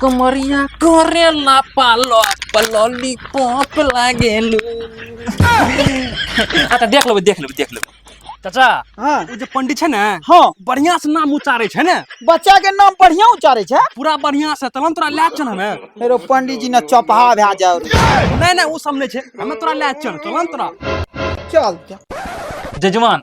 कमरिया करेला पालो पलोली पॉप लागेलू आ तऽ देख लेबै देख लेबै देख लेबै चाचा हाँ ओ जे पंडित छै ने हाँ बढ़िया से नाम उच्चारे छै ने बच्चा के नाम बढ़िया उच्चारे छै पूरा बढ़िया से तब हम तोरा लए चल हमे मेरो पंडित जी ने चौपहा भए जाओ नहीं नहीं वो सब नहीं छै हमे तोरा लए चल चल हम तोरा चल जजमान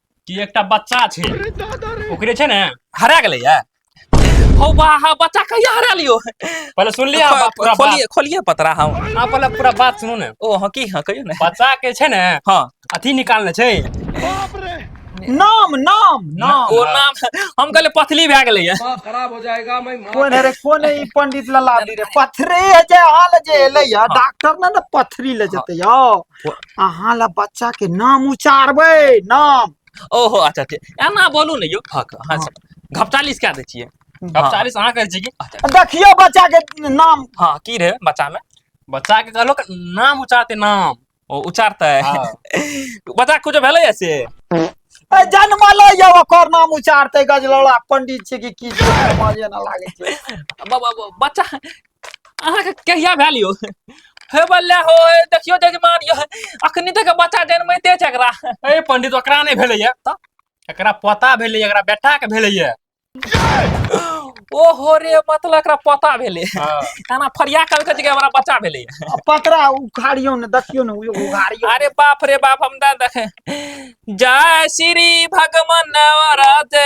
कि एकटा बच्चा छै ओकरे छै ने हरा गेलै या हौ बा हा बच्चा कहिया हरा लियो पहले सुन लिया बा पूरा बात खोलिए खोलिए पतरा हम आ पहले पूरा बात सुनू ने ओ हँ की हँ कहियो ने बच्चा के छै ने हँ अथी निकालने छै नाम नाम नाम ओ नाम हम कहले पथली भए गेलै या खराब हो जाएगा मैं मार कोन है रे कोन है ई पंडित लला दी रे पथरे जे हाल जे एलै या डॉक्टर ने ने पथरी ले जेते यो अहाँ ला बच्चा के नाम उचारबै नाम ओहो अच्छा ठीक एना बोलू ने यौ फक हाँ घपचालीस कए दै छियै घपचालीस अहाँ कहै छी कि अच्छा, देखियौ बच्चा के नाम हाँ की रहे बच्चा में बच्चा के कहलो कि नाम उचारते नाम ओ उचारते हाँ। बच्चा कुछ भेलै है से ए, जनमलै यौ ओकर नाम उचारतै गजलौड़ा पंडित छै कि की छै, समझे ना लागै छै ब- ब- ब- बच्चा अहाँके कहिया भेल यौ हे बल्ला हो हे देखियो जजमान यौ अखनी तक बच्चा जनमैते छै एकरा ए पंडित ओकरा नहि भेलैया तऽ एकरा पता भेलैया एकरा बेटा के भेलैया ओहो रे मतलब एकरा पता भेलै हाँ। खाना फरिया कल के जगह हमरा बच्चा भेलै आ पतरा उखाड़ियो ने देखियो ने उयो उघाड़ियो अरे बाप रे बाप हम ना देखे जय श्री भगवान नवराते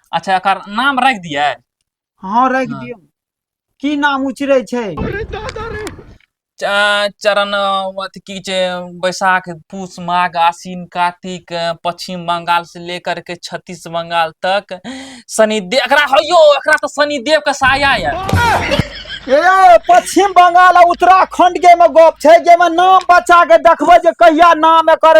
अच्छा एकर नाम राखि दियै हँ राखि हँ। दियौ की नाम उचरे छै च- चरण अ, अथी की छै बैसाख पूस माघ आसिन कातिक अ, पश्चिम बंगाल से लेकर के छत्तीस बंगाल तक शनिदेव एकरा हौ यौ एकरा तऽ शनिदेव के साया ये ए पश्चिम बंगाल आ उत्तराखंड के में गप छै जे में नाम बच्चा के देखबै जे कहिया नाम एकर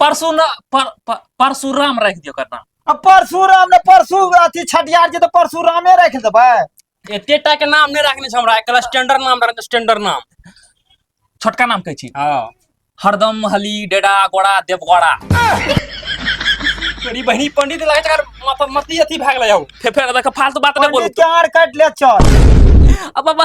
परसू न पर- पर- परशुराम राखि दियौ ओकर नाम आ परशुराम ने परशु अथी छठियार जी तऽ परशुरामे राखि देबै एतेटा के नाम नहि राखने छै हमरा एकरा स्टैंडर्ड नाम रखने स्टैंडर्ड नाम छोटका नाम कहै छी हँ हरदम हली डेडा गोड़ा देवगोड़ा तोरी बहिनी पंडित लागै छै माथा मती अथी भए गेलै हौ फेर फेर देख फालतू बात नहि बोलू पंडित के आर काटि ले चल अब बाबा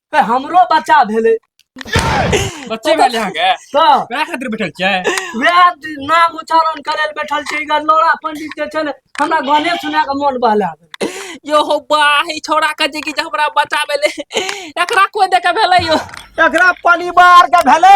ए, हमरो बच्चा भेलै बच्चे वाले यहाँ के तऽ वएह खातिर बैठल छियै वएह द- नाम उच्चारण करे ले बैठल छै इधर लोड़ा पंडित जे छै ने हमरा गाने सुना के मन बहला गेल। यो हो बा ई छोरा के जे कि जे हमरा बच्चा भेलै एकरा कोई देखे भेलै यो एकरा परिवार के भेलै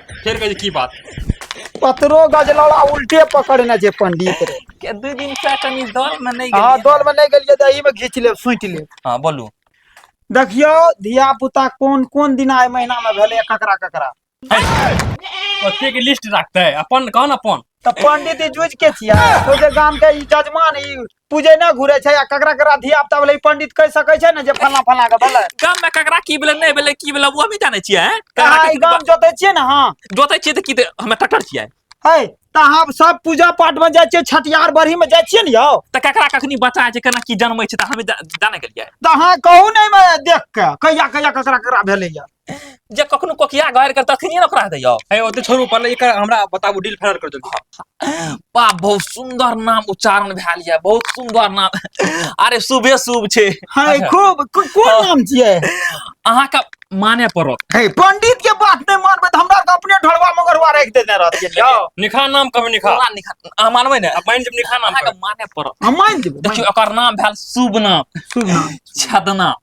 फेर कहे की बात पतरो गजलौड़ा उल्टे पकड़ने छै पंडित रे के दू दिन से कनी दल में नहीं हाँ गेलिए दौड़ में नहीं गेलिए तो एही में घींच लेब सुति लेब हां बोलू देखियो धिया पुता कोन कोन दिन आय महीना में भेलै ककरा ककरा ओते के लिस्ट रखते अपन कौन अपन तऽ पंडित ई जुझ के छिया तो जे गाम के ई जजमान ई पूजे ना घुरे छै आ ककरा ककरा धिया पुता भेलै ई पंडित कह सकै छै ने जे फलना फलना के भेलै गाम में ककरा की भेलै नहि भेलै की भेलै वो भी जानै छियै हैं? कहाँ ककरा ई के गाम जोते छियै ने हाँ जोतै छियै तऽ की तऽ हमे टटर छियै है तऽ अहाँ सब पूजा पाठ में जाइ छियै छठियार बढ़ी में जाइ छियै ने यौ तऽ ककरा कखनी बचा छै केना की जनमै छै तऽ हमे जा- जानै गेलियै तऽ अहाँ कहू ने एहिमे देख के कहिया कहिया ककरा ककरा भेलैया जे कखनो कोकिया गायर कर तखनी ओकरा दैयो हे ओते छोड़ू पहिले एकर हमरा बताबू डील फाइनल कर जल्दी बा बहुत सुंदर नाम उच्चारण भेल ये बहुत सुंदर नाम अरे शुभे शुभ छै हाय खूब को- कोन नाम छियै अहाँ के माने पड़त हे पंडित के बात नहीं मानबे तो हमरा के अपने ढोलवा मगरवा राख देने रहतिए जाओ निखा नाम कहबे निखा पूरा निखा अहाँ मानबै ने अब माइन जब निखा नाम अहाँ के कहबै। माने पड़त हम मान देबो देखियो ओकर नाम भेल शुभ नाम शुभ नाम छदना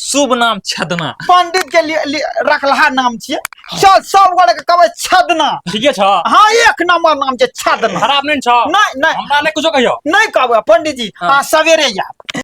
शुभ नाम छदना पंडित के लिए, लिए रखलहा नाम छिए चल सब गोरे के कहबे छदना ठीके छ हां एक नंबर नाम छै छदना खराब नहीं छ नहीं नहीं हमरा ले कुछो कहियो नहीं कहबे पंडित जी हाँ। आ सवेरे याद